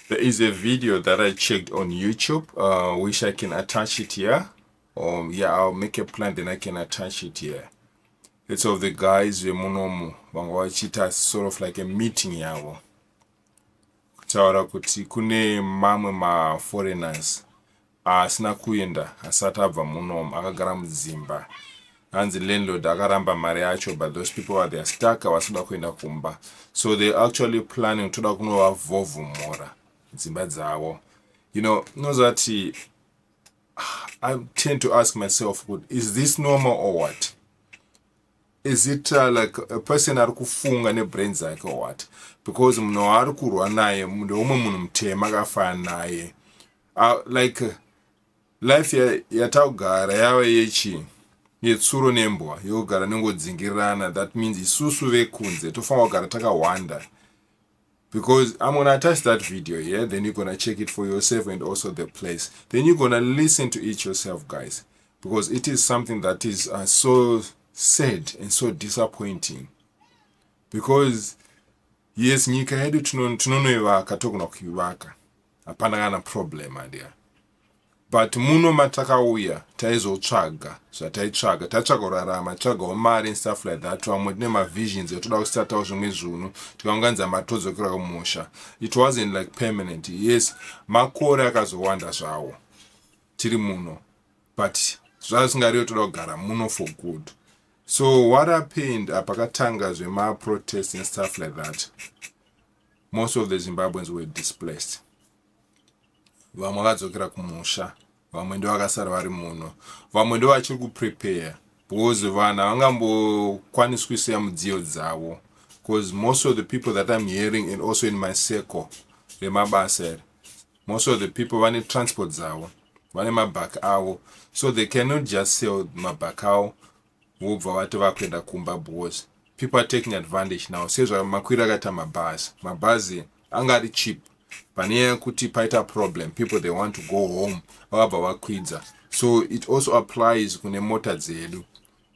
There is a video that I checked on YouTube, uh, which I can attach it here. Um, yeah, I'll make a plan, then I can attach it here. It's of the guys vemunomu vanga vachiita sort of like a meeting yavo kutaura kuti kune mamwe maforeigners Haasina kuenda asati abva munom akagara mudzimba hanzi landlord akaramba mari yacho but those people are they're stuck havasi kuda kuenda kumba so they actually planning toda kunovavhovhomora dzimba dzavo you know unozati I tend to ask myself, is this normal or what? Is it uh, like a person ari kufunga nebrain dzake or what? Because munhu waari kurwa naye ndeumwe munhu mutema akafanana naye. uh, like life yataugara yava yechi yetsuro nembwa yogara nengodzingirirana that means isusu vekunze tofanira kugara takahwanda because i'm gonna attach that video here then you're gonna check it for yourself and also the place then you're gonna listen to it yourself guys because it is something that is uh, so sad and so disappointing because yes nyika yedu tinonoivaka togona kuivaka Hapana kana problem adya. But muno matakauya taizotsvaga zvataitsvaga tatsvaga kurarama tsvagawo mari and stuff like that vamwe tine mavisions etoda kusatawo zvimwe zvunhu tikaunganidza mari todzokera kumusha it wasn't like permanent yes makore akazowanda zvawo tiri muno but zvazvingariyo toda kugara muno for good so what happened apakatanga zvemaprotest and stuff like that Most of the Zimbabweans were displaced. Vamwe vakadzokera kumusha, vamwe ndovakasara vari muno, vamwe ndovachiri kuprepare because vanhu havangambokwaniswi siya mudziyo dzavo because most of the people that I'm hearing and also in my circle remabasa iri most of the people vane transport dzavo vane mabhak avo so they cannot just sell mabhak avo vobva vati vakuenda kumba because people are taking advantage now sezvamakwira akaita mabhazi mabhazi anga ari cheap pane nyaya yekuti paita problem people they want to go home vakabva vakwidza so it also applies kune mota dzedu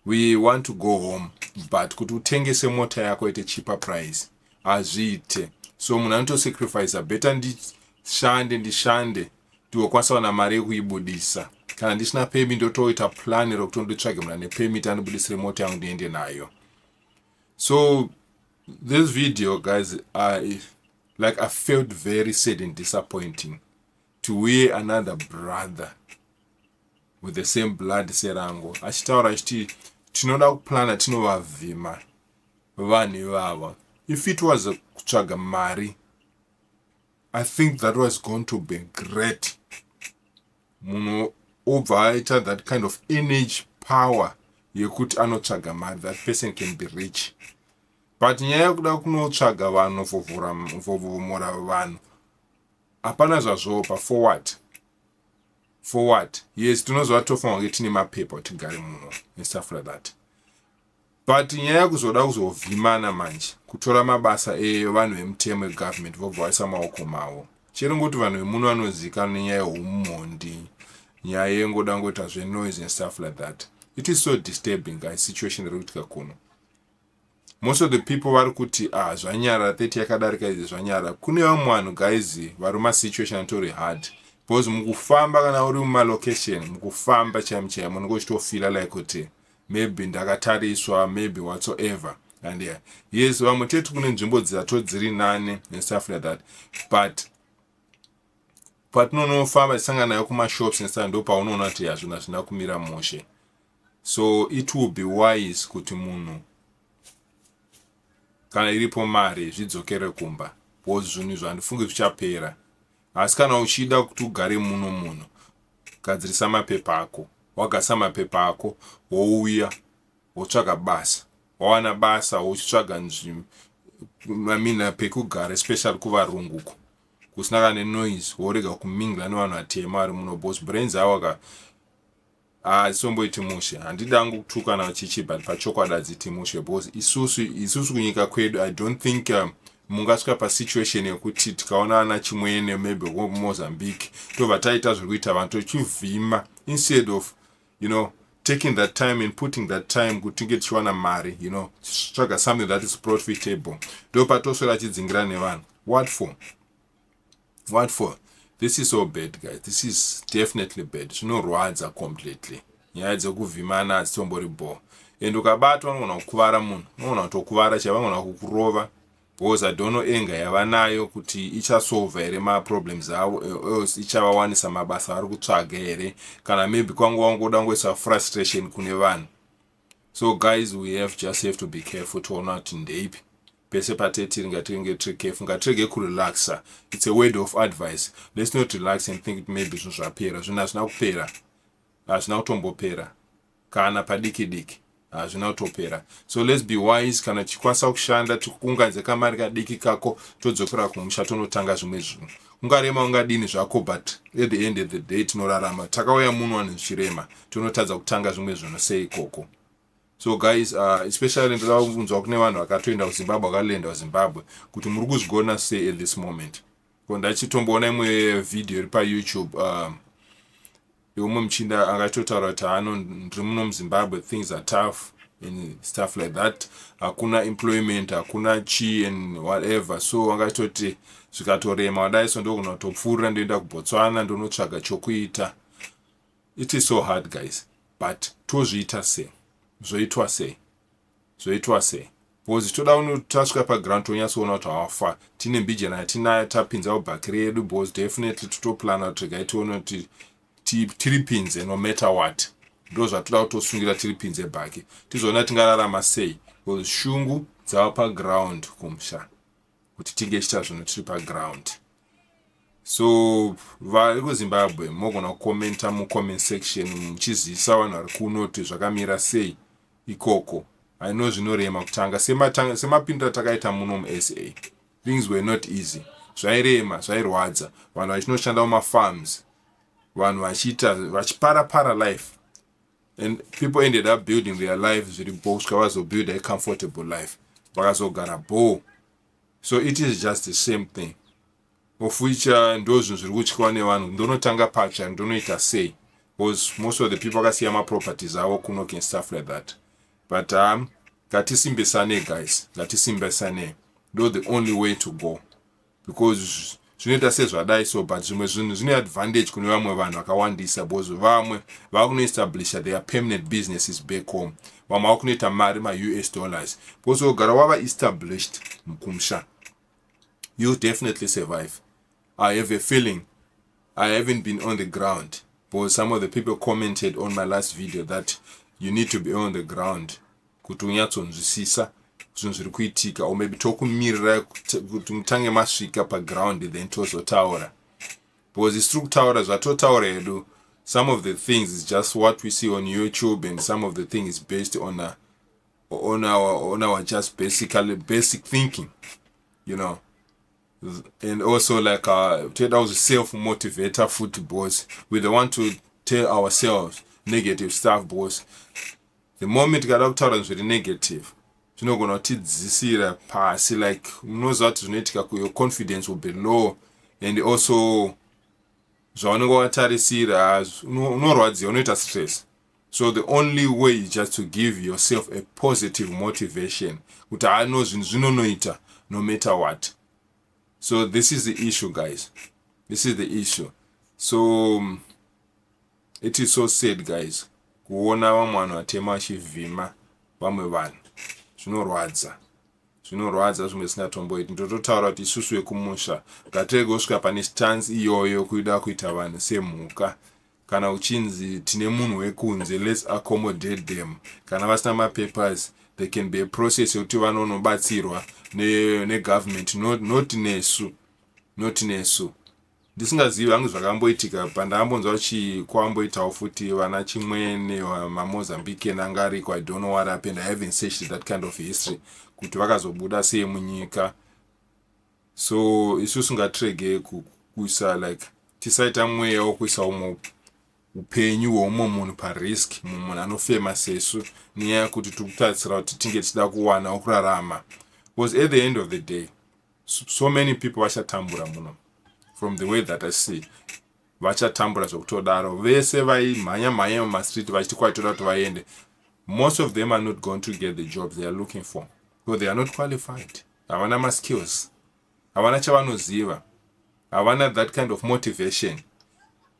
we want to go home but kuti utengese mota yako ite cheaper price hazviite so munhu anotosacrifice better ndishande ndishande Ndikwanisa kuwana mari yekuibudisa kana ndisina permit ndotoita plan rekuti nditsvage munhu ane permit andibudisire mota yangu ndiende nayo so this video guys i like i felt very sad and disappointing to wear another brother with the same blood serango achitaura achiti tinoda kuplana tinovavhima vanhu ivava if it was kutsvaga mari I think that was going to be great munhu obva aita that kind of energy power yekuti anotsvaga mari that person can be rich but nyaya yekuda kunotsvaga vanhu vovhomora vanhu hapana zvazvopa for what for what yes tinoziva tofanira kunge tine mapepa kuti gare muno and stuff like that But nyaya kuzoda kuzovhimana manje kutora mabasa evanhu vemutemo egovernment vobva vaisa maoko mavo chero ngoti vanhu vemuno vanozivikanwa nenyaya yehumhondi nyaya yengoda ngoita zvenoise and stuff like that it is so disturbing guys situation iri kuitika kuno most of the people vari kuti ah zvanyara 30 yakadarika izvi zvanyara kune vamwe vanhu guys vari masituation atori hard because mukufamba kana uri mumalocation mukufamba chaimo chaimo unenge uchitofila like kuti okay. maybe ndakatariswa maybe whatsoever and yeah. yes vamwe tete kune nzvimbo dzisato dziri nani and stuff like that but patinonofamba tisangana nayo kumashops nesa ndo paunoona kuti hazvina zvina kumira mushe so it will be wise kuti munhu kana iripo mari zvidzokere kumba bcause zvinhu izvo handifungi zvichapera Asi kana uchida kuti ugare muno muno, gadzirisa mapepa ako. Wagadzirisa mapepa ako, wouya, wotsvaga basa. Wawana basa, wochitsvaga nzvimbo, I mean, pekugara, especially kuvarungu uko. Kusina kana nenoise, worega kumingla nevanhu vatema vari muno, because brains awo aka, Haa hatisomboiti mushe handidi hangu kutukana chichi but pachokwadi hadziti mushe because isusu isusu kunyika kwedu i don't think um, mungasvika pasituation yekuti tikaona ana chimwene maybe mozambique tobva taita zviri kuita vanhu tochivhima instead of you know taking that time and putting that time kuti tinge tichiwana mari you know tsvaga something that is profitable ndopatoswera achidzingira nevanhu what for what for this is so bad guys this is definitely bad zvinorwadza completely nyaya dzekuvhimana hadzitombori bho and ukabatwa unogona kukuvara munhu unogona kutokuvara chava unogona kukurova because i don't know enga yava nayo kuti ichasolva here maproblems avo eh, else ichavawanisa mabasa avari kutsvaga here kana maybe kwanga wangoda kungoisa frustration kune vanhu so guys we have just have to be careful toona kuti ndeipi Pese patetiri ngatinge tiri careful ngatirege kurelaxer it's a word of advice let's not relax and think kuti maybe zvinhu zvapera zvinhu hazvina kupera hazvina kutombopera kana padiki diki hazvina kutopera so let's be wise kana tichikwanisa kushanda tikuunganidze kamari kadiki kako todzokera kumusha tonotanga zvimwe zvinhu ungarema ungadini zvako but at the end of the day tinorarama takauya muno anhu zvichirema tonotadza kutanga zvimwe zvinhu sei ikoko So guys, uh, especially ndoda kunzwa kune vanhu vakatoenda kuZimbabwe vakalenda kuZimbabwe kuti muri kuzvigona sei at this moment. Ko ndachitomboona imwe video iri paYouTube um, yeumwe muchinda akatotaura kuti hano ndiri muno muZimbabwe things are tough and stuff like that hakuna employment hakuna chi and whatever so angatoti zvikatorema wadai so ndokunotopfuurira ndoenda kuBotswana ndonotsvaga chokuita It is so hard guys but tozviita sei zvoitwa sei zvoitwa sei bcoz toda tasvika paground tonyatsoona kuti hawafa tine mbijana yatinayo tapinza ubhakiri yedu bcoz definitely totoplana kuti regai tione kuti tiri pinze no matter what ndo zvatoda kutosungira tiri pinze bhaki tizoona tingararama sei bcoz shungu dzava paground kumusha kuti tinge tichita zvinhu tiri paground so vari kuzimbabwe mogona kukomenta mucomment section muchizivisa vanhu vari kuno kuti zvakamira sei ikoko aino zvinorema kutanga semapindura takaita muno musa things were not easy zvairema zvairwadza vanhu vachinoshanda mumafarms vanhu vachiita vachipara para life and people ended up building their life zviri bho kusvika vazobuild a comfortable life vakazogara bho so it is just the same thing ofuicha ndo zvinhu zviri kutyiwa nevanhu ndonotanga patsva ndonoita sei because most of the people akasiya maproperties avo kunoken stuff like that but um, ngatisindisane guys ngatisindisane ndo the only way to go because zvinoita sezvadai so but zvimwe zvinhu zvine advantage kune vamwe vanhu vakawandisa because vamwe vava kunoestablisha their permanent businesses back home vamwe vava kunoita mari maus dollars because ogara wava established mukumusha you definitely survive i have a feeling i haven't been on the ground because some of the people commented on my last video that you need to be on the ground kuti unyatsonzwisisa zvinhu zviri kuitika or maybe tokumirira kuti mutange masvika paground then tozotaura because isi tiri kutaura zvatotaura hedu some of the things is just what we see on youtube and some of the thing is based on a, on our on our just basically basic thinking you know and also like uh take out the self motivator foot boys we don't want to tell ourselves negative stuff boys the moment kada kutaura zviri negative zvinogona kutidzisira pasi like unoziva kuti zvinoitika kuyo confidence will be low and also zvaunenge watarisira unorwadziwa unoita stress so the only way is just to give yourself a positive motivation kuti ano zvinhu zvinonoita no matter what so this is the issue guys this is the issue so um, It is so sad guys kuona vamwe vanhu vatema vachivhima vamwe vanhu zvinorwadza zvinorwadza zvimwe zvisingatomboiti ndototaura kuti isusu vekumusha ngatirege kusvika pane stance iyoyo kuida kuita vanhu semhuka kana uchinzi tine munhu wekunze lets accommodate them kana vasina mapapers they can be a process yekuti vanonobatsirwa negovernment not nesu not nesu ndisingazivi hangu zvakamboitika pandakambonzwa kuti kwamboitawo futi vana chimwene mamozambican anga ariko i don't know what happened i haven't searched that kind of history kuti vakazobuda sei munyika so isu singatrege kuisa like tisaita mweya wokuisa umwe upenyu hweumwe munhu parisk mumwe munhu anofema sesu nenyaya yekuti tiri kutarisira kuti tinge tichida kuwanawo kurarama bcause at the end of the day so many people vachatambura muno from the way that i see vachatambura zvekutodaro vese vaimhanya mhanya mumastreet vachiti kwaitoda kuti vaende most of them are not going to get the job they are looking for so they are not qualified havana maskills havana chavanoziva havana that kind of motivation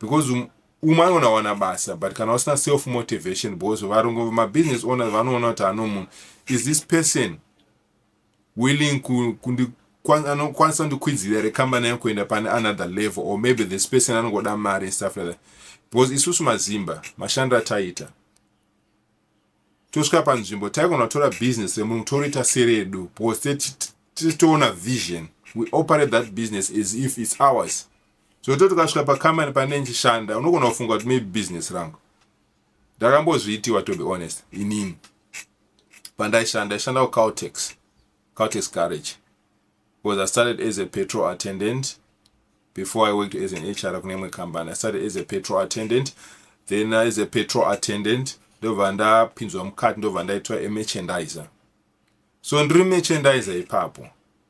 because um, umwe anoona wana basa but kana usina self motivation because varungu mabusiness owners vanoona kuti ano munhu is this person willing ku kundi anokwanisa kundikwidzira here kambani yangu kuenda pane another level or maybe this person anongoda mari and stuff like that because isusu mazimba mashandi ataita tosvika panzvimbo taigona kutora business remunhu toriita seredu because titoona vision we operate that business as if its ours so to tukasvika pakambani pane ndichishanda unogona kufunga kuti maybe business rangu Ndakambozviitiwa to be honest inini pandaishanda ndaishanda kuCaltex Caltex garage because I started as a petrol attendant before I worked as an HR kune imwe company I started as a petrol attendant then as a petrol attendant ndobva ndapinzwa mukati ndobva ndaitwa emerchandiser so ndiri merchandiser ipapo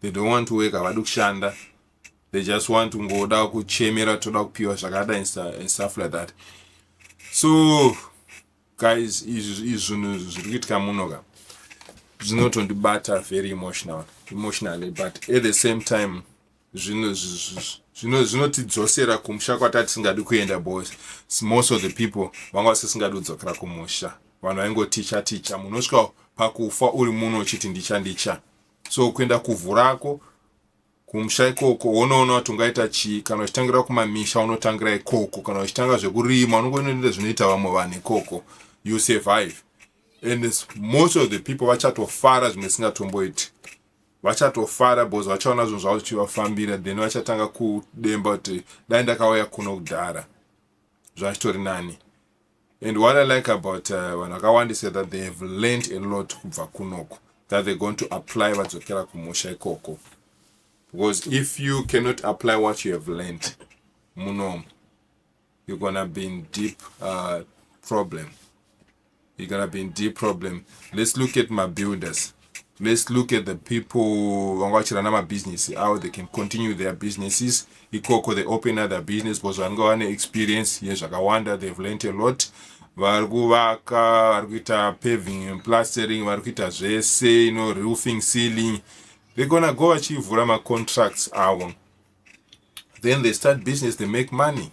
They don't want to work havadi kushanda they just want kungoda kuchemera toda kupiwa zvakadai and stuff like that so guys izvi zvinhu zviri kuitika muno ka zvinotondibata very emotional emotionally but at the same time zvinotidzosera kumusha kwatati tisingadi kuenda bos most of the people vanga vasisingadi kudzokera kumusha vanhu vaingoticha ticha munosvika pakufa uri muno uchiti ndicha ndicha so kuenda kuvhu rako kumusha ikoko wonoona kuti ungaita chii kana uchitangira kumamisha unotangira ikoko kana uchitanga zvekurima unongonoita zvinoita vamwe vanhu ikoko you survive and most of the people vachatofara zvimwe singatomboiti vachatofara because vachaona zvinhu zvavo zvichivafambira then vachatanga kudemba kuti dai ndakauya kuno kudhara zvachitori nani And what I like about uh, vanhu vakawandisa that they have learned a lot kubva kunoko that they're going to apply vadzokera kumusha ikoko because if you cannot apply what you have learned munomu you're gonna be in deep uh, problem you're gonna be in deep problem let's look at my builders Let's look at the people vanga vachirana mabusiness avo they can continue their businesses ikoko they open other business because vanenge vane experience yezvakawanda they've learnt a lot vari kuvaka vari kuita paving and plastering vari kuita zvese ino roofing sealing they're gonna go vachivhura macontracts avo then they start business they make money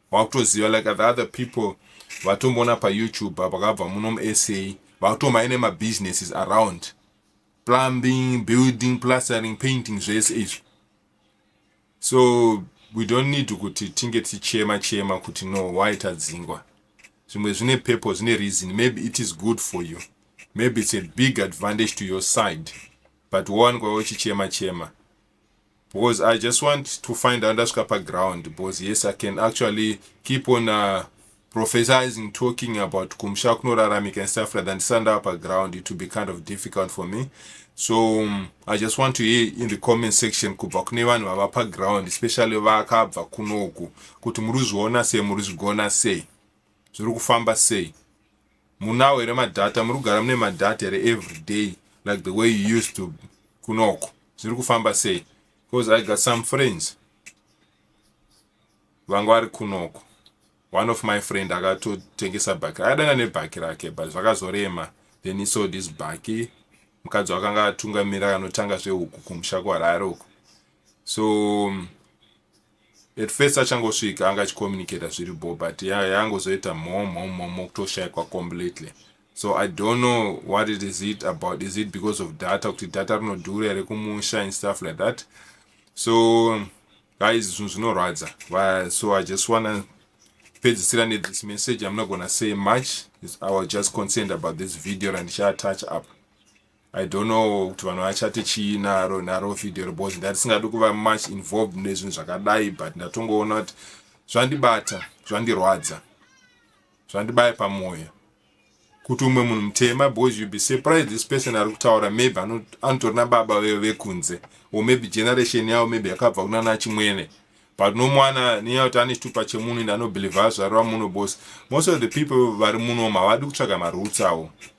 Vakutoziva like the other people vatomboona pa YouTube vakabva muno mu SA vakutoma ine ma businesses around plumbing, building, plastering, painting zvese izvi. So we don't need kuti tinge tichema chema kuti no why tadzingwa. Zvimwe zvine purpose, zvine reason. Maybe it is good for you. Maybe it's a big advantage to your side. But one kwa uchichema chema. because i just want to find out ndasvika paground because yes i can actually keep on uh, prophesizing talking about kumusha kunoraramika and stuff like that ndisana ndava paground it will be kind of difficult for me so um, i just want to hear in the comment section kubva kune vanhu vava paground especially vakabva kunoku kuti muri kuzviona sei muri zvigona sei zviri kufamba sei Munawo here madata muri kugara mune madata here everyday like the way you used to kunoko zviri kufamba sei because i got some friends vanga vari kunoko one of my friend akatotengesa bhaki akadana nebhaki rake but zvakazorema then he sold his bhaki mukadzi wakanga atungamira anotanga zvehuku kumusha kwarari uko so um, At first achangosvika anga achicommunicator zviri bho but ya yangozoita mhom mhom mhom mokutoshaikwa completely so I don't know what it is it about is it because of data kuti data rinodhura here kumusha and stuff like that so guys zvinhu zvinorwadza so I just wanna pedzisira ne this message I'm not gonna say much I was just concerned about this video randicha attach up I don't know kuti vanhu vachati chii naro naro video iri because ndatisingadi kuva much involved nezvinhu zvakadai but ndatongoona kuti zvandibata zvandirwadza zvandibaya pamwoyo kuti umwe munhu mutema because you be surprised this person ari kutaura maybe anotori nababa veyo vekunze or maybe generation yavo maybe yakabva kuna nachimwene but no mwana nenyaya kuti ane chitupa chemunhu ende anobhilivha zvariva muno bos most of the people vari muno havadi kutsvaga marutsawo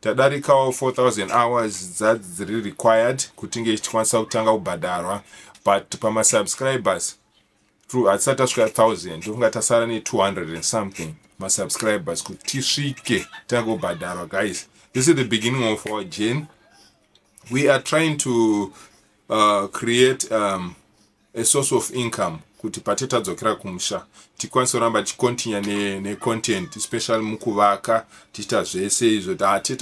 Tadarikawo 4000 hours dzadzi dziri required kuti inge ichikwanisa kutanga kubhadharwa but pamasubscribers true hatisati tasvika 1000 ndofunga tasara ne200 and something masubscribers kuti tisvike tange kubhadharwa guys this is the beginning of our journey we are trying to uh, create um, a source of income kuti pate tadzokera kumusha tikwanise kuramba tichicontinua ne, ne content especially mukuvaka tichiita zvese izvo tate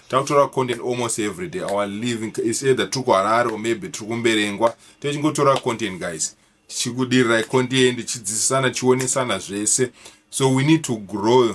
takutora content almost every day our living is either tiri kuharare or maybe tiri kumberengwa techingotora content guys tichikudirirai content tichidzidzisana tichionesana zvese so we need to grow